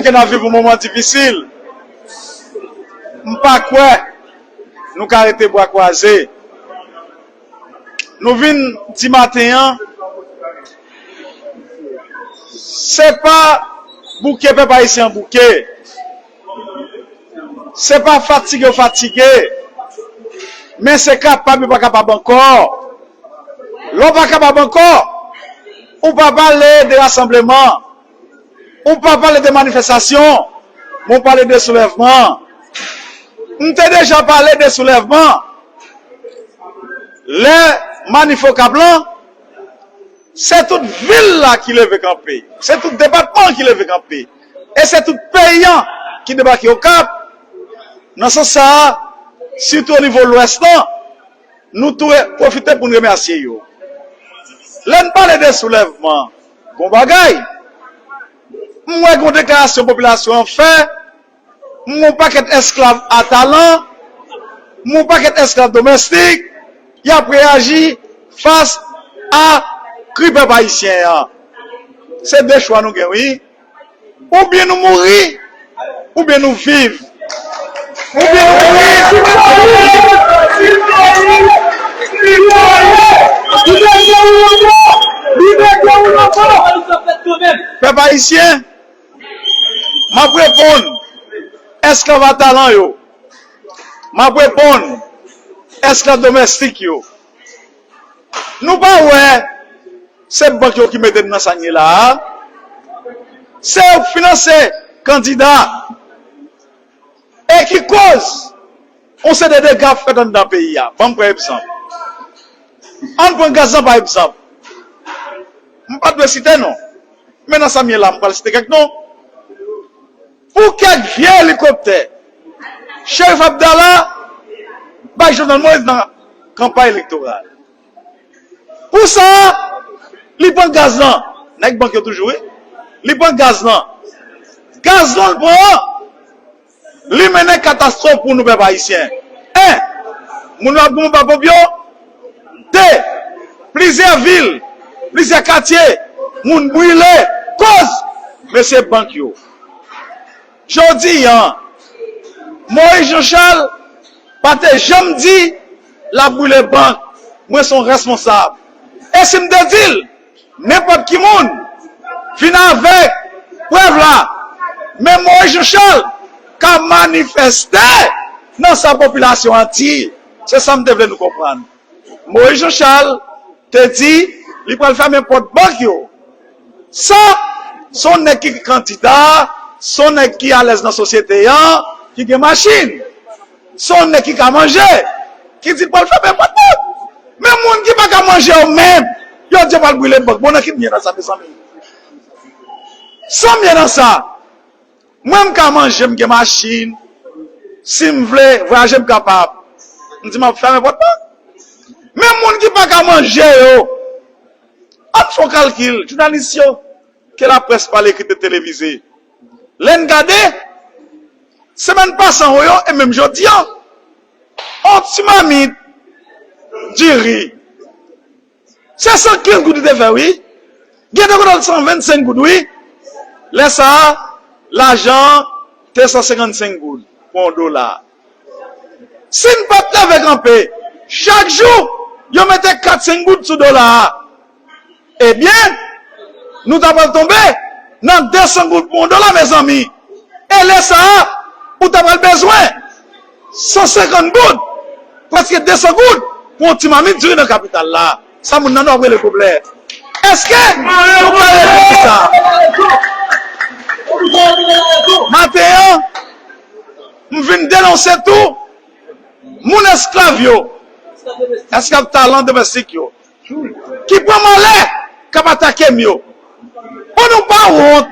Ke n ap viv yon moman difisil, m pa kwè nou ka rete bra kwaze. Nou vin di maten an, se pa bouke pèp ayisyen an bouke, se pa fatige yo fatige, men se kapab yo pa kapab ankò. Lè w pa kapab ankò, ou pa pale de rasanbleman. Ou pa pale de manifestasyon, men ou pale de soulèvman. M te deja pale de soulèvman lè manif Okap lan, se tout vil la ki leve kanpe, se tout depatman an ki leve kanpe e se tout peyi an ki debake Okap. Nan sans sa a, sitou onivo Lwès lan, nou tou pwofite pou n remèsye yo. Lè n pale de soulèvman. Bon bagay! M wè gen yon deklarasyon popilasyon an fè, m wè yon pakèt esklav a talan, m wè yon pakèt esklav domèstik, y ap reyaji fas a kri pèp ayisyen an. Se de chwa nou gen wi. Ou byen nou mouri, ou byen nou viv. Ou byen nou mouri, ou byen nou viv. Viv peyi, viv Bondye. Li mete ou lonbo, li mete ou lonbo. Pèp Ayisyen, m ap reponn esklav a talan yo, m ap reponn esklav domèstik yo. Nou pa wè se bank yo ki mete n nan sa n ye la a? Se yo k finanse kandida e ki koz yon seri de dega ap fèt anndan peyi a. Ban m pran egzanp. An n pran gaz lan pa egzanp. M pa t dwe site non, men nan sa m ye la a m pral site kèk non. Pou kèk vye elikoptè, Sheriff Abdallah bay Jovenel Moïse nan kanpay elektoral. Pou sa, li pran gaz lan, nèg bank yo toujou wi, li pran gaz lan. Gaz lan l pran an, li mennen katastwòf pou nou pèp ayisyen. 1, Moun yo ap goumen pa ponp yo. 2, Plizyè vil, plizyè katye, moun brile, kòz mesye bank yo. Jodi a, Moïse Jean Charles pa te janm di l ap boule bank, mwen se yon responsab. E si m te di l, nenpòt ki moun, vin avèk prèv la. Men Moïse Jean Charles ka manifeste nan sa popilasyon an di. Se sa m te vle nou konprann. Moïse Jean Charles te di li pral fèmen pòt bank yo. Sa, se yon nèg ki kandida, se yon nèg ki alèz nan sosyete an, ki gen machin. Se yon nèg ki ka manje, ki di l pral fèmen pòt bank. Men moun ki pa ka manje yo menm, yo di yo pral brile bank. Bon nan ki byen nan sa mezanmi? San byen nan sa? Mwen m ka manje m gen machin si m vle vwayaje m kapab m di map fèmen pòt mwen men moun ki pa ka manje yo ann fon kalkil jounalis yo ke la près pale ekri te televize lè n gade semèn pasan ho yo e menm jodi an on ti mamit diri Se 115 goud li te fè wi. Gen de kote al 125 goud wi. Lè sa a, lajan an te 155 goud pou yon dola. Si n pa t leve kanpe, chak jou yo mete 4, 5 goud sou dola a, ebyen nou ta pral tonbe nan 200 goud pou yon dola mezanmi. E lè sa a, ou ta pral bezwen. 150 goud, preske 200 goud pou yon ti mamit diri nan kapital la, sa moun nan nò ap rele goblè. Eske nou ka reponn sa? Maten an, m vin denonse tou moun esklav yo, esklav talan domestik yo. ki pran malè k ap atake m yo. Bon nou pa wont,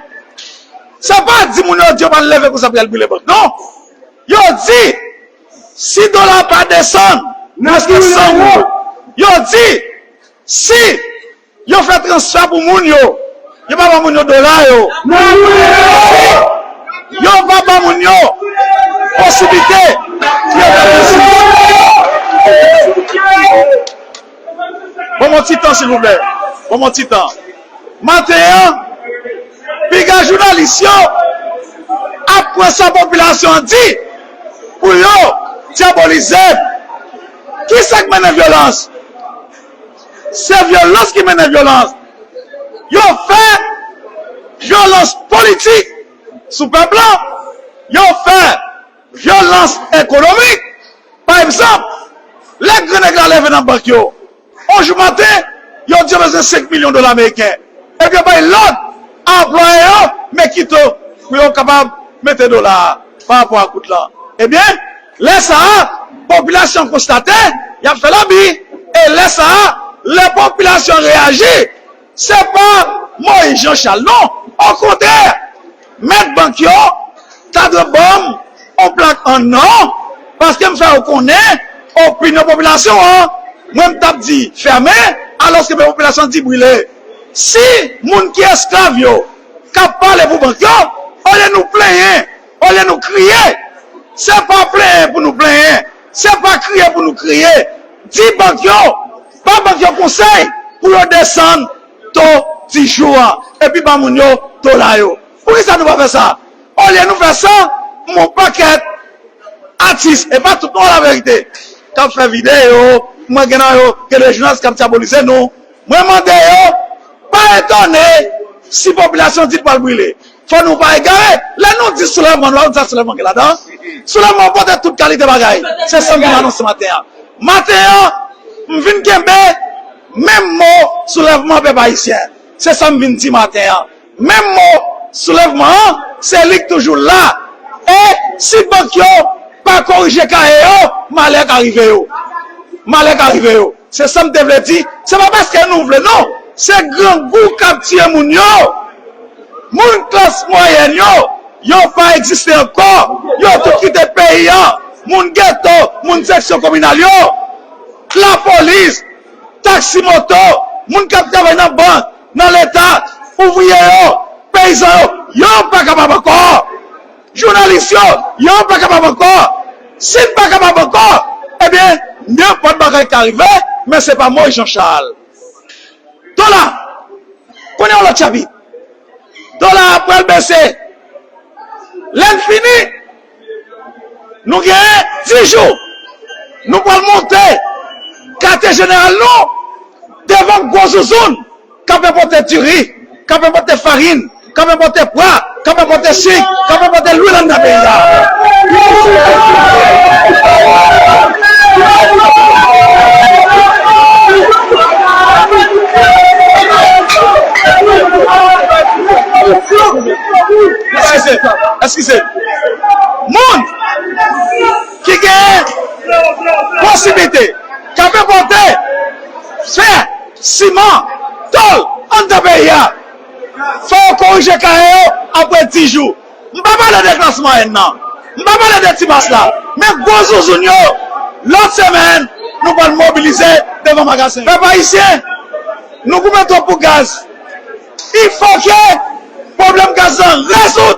sa pa di moun yo di yo pral leve konsa pou y al brile bank non. Yo di si dola a pa desann preske 100 goud, yo di si yo fè transfè pou moun yo, yo pa ban moun yo dola yo, yo di yo pa ban moun yo posiblite pou yo fè biznis. Ban mwen yon ti tan silvouplè. Ban mwen yon ti tan. Maten an, piga jounalis yo ap pran sa popilasyon an di pou yo dyabolize l. Ki sa k mennen vyolans? Se vyolans ki mennen vyolans. Yo fè vyolans politik sou pèp lan. Yo fè. Vyolans ekonomik, pa egzanp, lè gran nèg la leve nan bank yo on jou maten, yo di yo bezwen 5 milyon dola meriken, epi yo bay lòd a anplwaye yo men kito pou yo kapab mete dola a pa rapò ak goud lan. Ebyen, lè sa a, popilasyon konstate y ap fè labi, e lè sa a, lè popilasyon reyaji, Se pa Moïse Jean Charles non, okontrè mèt bank yo ta dwe banm on plak an nò paske m fè yo konnen opinyon popilasyon an mwen m tap di fèmen alòske men popilasyon an di brile. Si moun ki esklav yo ka pale pou bank yo olye nou plenyen, olye nou kriye se pa plenyen pou nou plenyen. Se pa kriye pou nou kriye, di bank yo, ba bank yo konsèy pou yo desann to dijou a epi ba moun yo dola yo. Poukisa nou pa fè sa? Olye nou fè sa, m'en pakèt atis, e pa tout non la verite, k'ap fè videyo, mwen gen nan yo gen 2 jounalis k'ap dyabolize nou, mwen mande yo pa etone si popilasyon di li pral brile. Fò nou pa egare, lè nou di soulèvman nou pa di sa soulèvman gen ladan. Soulèvman an pote tout kalite bagay. Se sa m vin anonse maten an. Maten an, m vin kenbe menm mo soulèvman pèp ayisyen. Se sa m vin di maten an. Menm mo soulèvman an, se li k toujou la. E si bank yo pa korije kaye yo, malè ka rive yo. Malè ka rive yo. Se sa m te vle di. Se pa paske nou vle non. Se grangou k ap tiye moun yo. Moun klas mwayèn yo, yo pa egziste ankò, yo tout kite peyi a, moun geto, moun seksyon kominal yo, lapolis, taksi moto, moun k ap travay nan bank, nan leta, ouvriye yo, peyizan yo, yo pa kapab ankò. Jounalis yo, yo pa kapab ankò. Si n pa kapab ankò, ebyen nenpòt bagay ka rive, men se pa Moyiz Janchal. Dola konnen yon lòt chapit. Dola pral bese. Lè n fini, nou gen 10 jou. Nou pral monte katye jeneral nou devan gwo zouzoun k ap enpòte diri, k ap enpòte farin. Kap enpote pwa, kap enpote sik, kap enpote lwil anndan peyi sa. Eskize m. Moun ki gen posiblite kap enpote fè, siman, tol anndan peyi a. Fò w korije kaye yo apre 10 jou. M pa pale de klas mwayèn nan, m pa pale de ti mas la, men gwo zouzoun yo. Lòt semèn, nou pral mobilize devan magazen yo. Pèp Ayisyen, nou goumen twòp pou gaz. Fòk pwoblèm gaz la rezoud!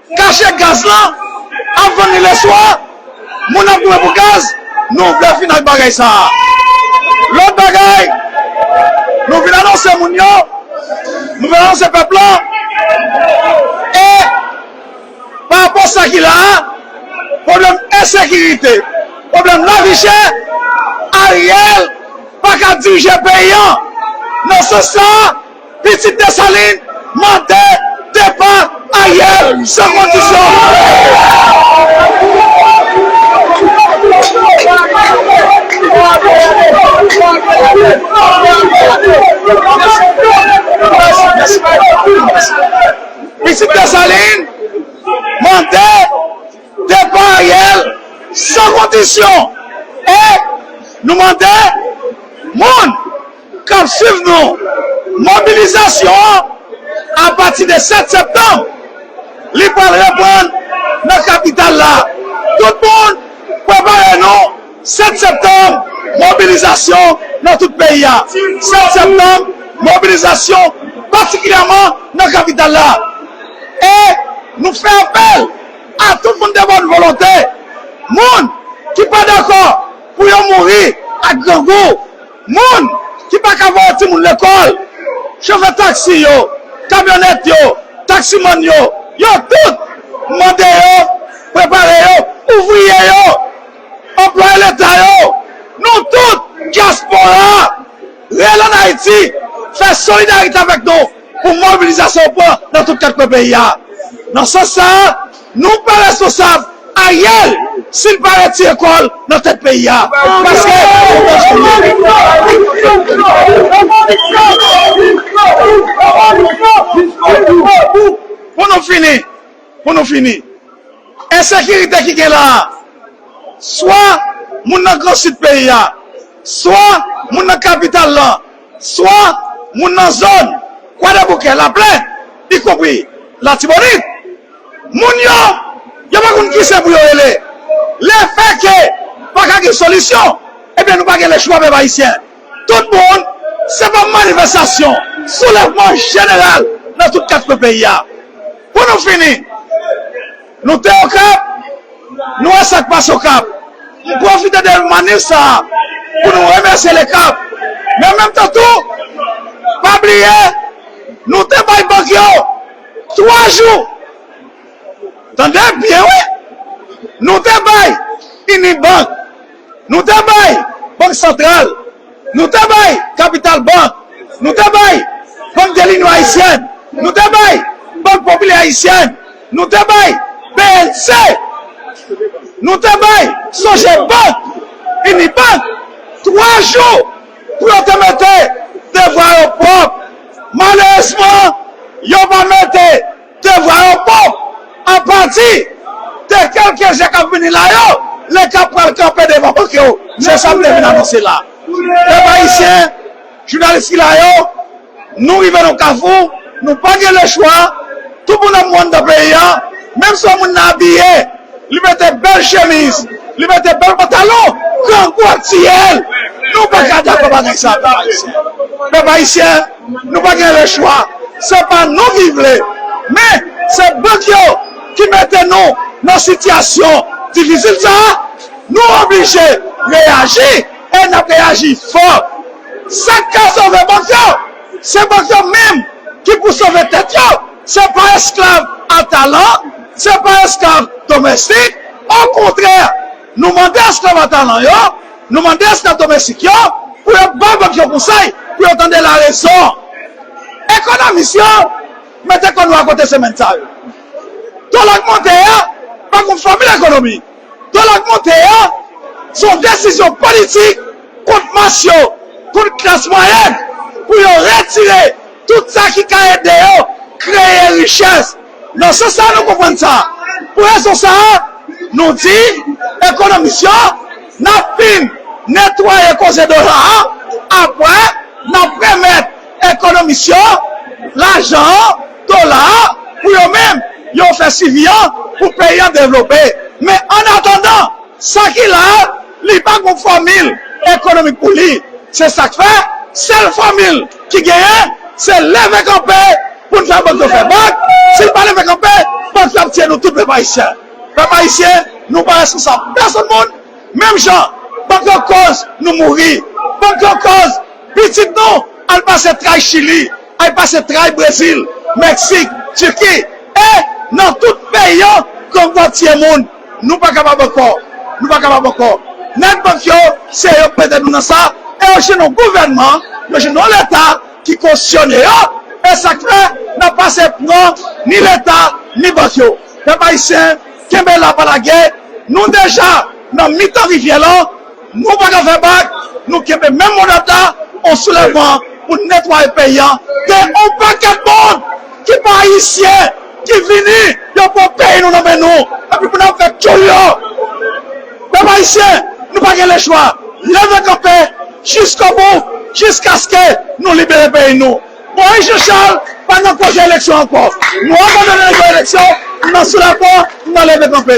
Kache gaz lan ap vann li leswa moun ap goumen pou gaz nou vle fini ak bagay sa a lòt bagay nou vin anonse moun yo nou vin anonse pèp lan e parapò sa ki la a pwoblèm ensekirite pwoblèm lavichè Ariel paka dirije peyi an nan sans sa a. Pitit Desalin mande depa Ariel san kondisyon. Pitit Desalin mande depa Ariel san kondisyon e nou mande moun. k ap suiv nou. Mobilizasyon an apati de 7 septanm li pral reprann nan kapital la. Tout moun prepare nou 7 septanm mobilizasyon nan tout peyi a. 7 septanm mobilizasyon patikilyèman nan kapital la. E nou fè apèl a tout moun de bòn volonte, moun ki pa dakò pou yo mouri ak grangou. Moun ki pa ka voye timoun lekòl, chofè taksi yo, kamyonèt yo, taksimann yo, yo tout mande yo prepare yo, ouvriye yo, anplwaye leta yo, nou tout dyaspora reyèl ann Ayiti fè solidarite avèk nou. pou mobilizasyon pran nan tout 4 kwen peyi a. Nan sans sa, nou pa responsab Ariel si l pa retire kò l nan tèt peyi a, paske Pou nou fini, pou nou fini, ensekirite ki gen la a, swa moun nan gran sid peyi a, swa moun nan kapital lan, Swa moun nan zòn Kwadèboukè, Laplèn, ikonpri Latibonit, moun yo, yo pa konn kise pou yo rele. Le fè ke pa ka gen solisyon, ebyen nou pa gen lechwa pèp ayisyen. Tout moun, se pa manifestasyon, soulèvman jeneral nan tout kat kwen peyi a. Pou nou fini. Nou te Okap, nou wè sak pase Okap. M pwofite de manif sa a pou nou remèsye LECAP, men an menm tan tou pa bliye nou te bay bank yo 3 jou, tande byen wi, nou te bay Unibank, nou te bay Bank Santral. Nou te bay Kapital Bank, nou te bay Bank de l'Union Haïtienne, nou te bay Banque Populaire Haïtienne, nou te bay bnc, nou te bay Sogebank, Unibank, 3 jou pou yo te mete devwa yo pwòp. Malerezman, yo pa mete. Te vwa yo po, an pati, de kelke je kap vini la yo, le kap pral kanpe devan bok yo, se sam te vin anonse la. Pèp ayisyen, jounalis ki la yo, nou rive nan kafou, nou pa gen le chwa, tout moun ap mou anndan peyi an, menm si yon moun nan abiye, li mete bèl chemiz, li mete bèl pantalon, grangou ap tiyel, nou paka dakò bagay sa pèp ayisyen. Pèp ayisyen. Nou pa gen le chwa, se pa nou ki vle, men se bank yo ki mete nou nan sitiyasyon difisil sa a. Nou oblije reyaji e n ap reyaji fò. Sa k ka sove bank yo, se bank yo menm ki pou sove tèt yo, se pa esklav a talan, se pa esklav domèstik, okontrè. Nou mande esklav a talan yo, nou mande esklav domestik yo pou yo bay bank yo konsèy, pou yo tande larezon. Ekonomis yo mete kò nou akote semèn sa yo. Dola k monte a pa gon fòmil ekonomi. Dola k monte a se yon desizyon politik kont mas yo, kont klas mwayèn pou yo retire tout sa ki ka ede yo kreye richès. Nan sans sa a nou konprann sa. Pou rezon sa a, nou di ekonomis yo n ap fin netwaye koze dola a apre n ap remèt ekonomis yo lajan an, dola a, pou yo menm yo fè swivi an pou peyi an devlope. Men annatandan, sa ki la a Li pa gon fòmil ekonomik pou li, se sak fè sèl fòmil ki genyen se leve kanpe poun fè bank yo fè bank, si nou pa leve kanpe bank yo ap tiye nou tout pèp ayisyen. Pèp ayisyen nou pa reskonsab pèsonn moun, menm jan bank yo kòz nou mouri, bank yo kòz pitit nou al pase tray chili, al pase tray brezil, meksik, tiki e nan tout peyi yo gang yo ap tiye moun. Nou pa kapab ankò! Nou pa kapab ankò! Nèg bank yo, se yo k mete nou nan sa, e yo jwenn yon gouvènman, yo jwenn yon leta ki kosyone yo, e sa k fè n ap pase pran ni leta ni bank yo. Pèp ayisyen, kenbe la pa lage, nou deja nan mitan rivyè lan. Nou pa ka fè bak, nou kenbe menm mo dat la, on soulèvman pou netwaye peyi an, gen on pakèt moun ki pa ayisyen ki vini yo pran peyi nou nan men nou epi pou nap fè tchoul yo. Pèp ayisyen nou pa gen lechwa, leve kanpe jiskobou jiskaske nou libere peyi nou. Moyiz Jan Chal pa nan koze eleksyon ankò, nou abandone nan eleksyon, nou nan soulèvman, nou nan leve kanpe.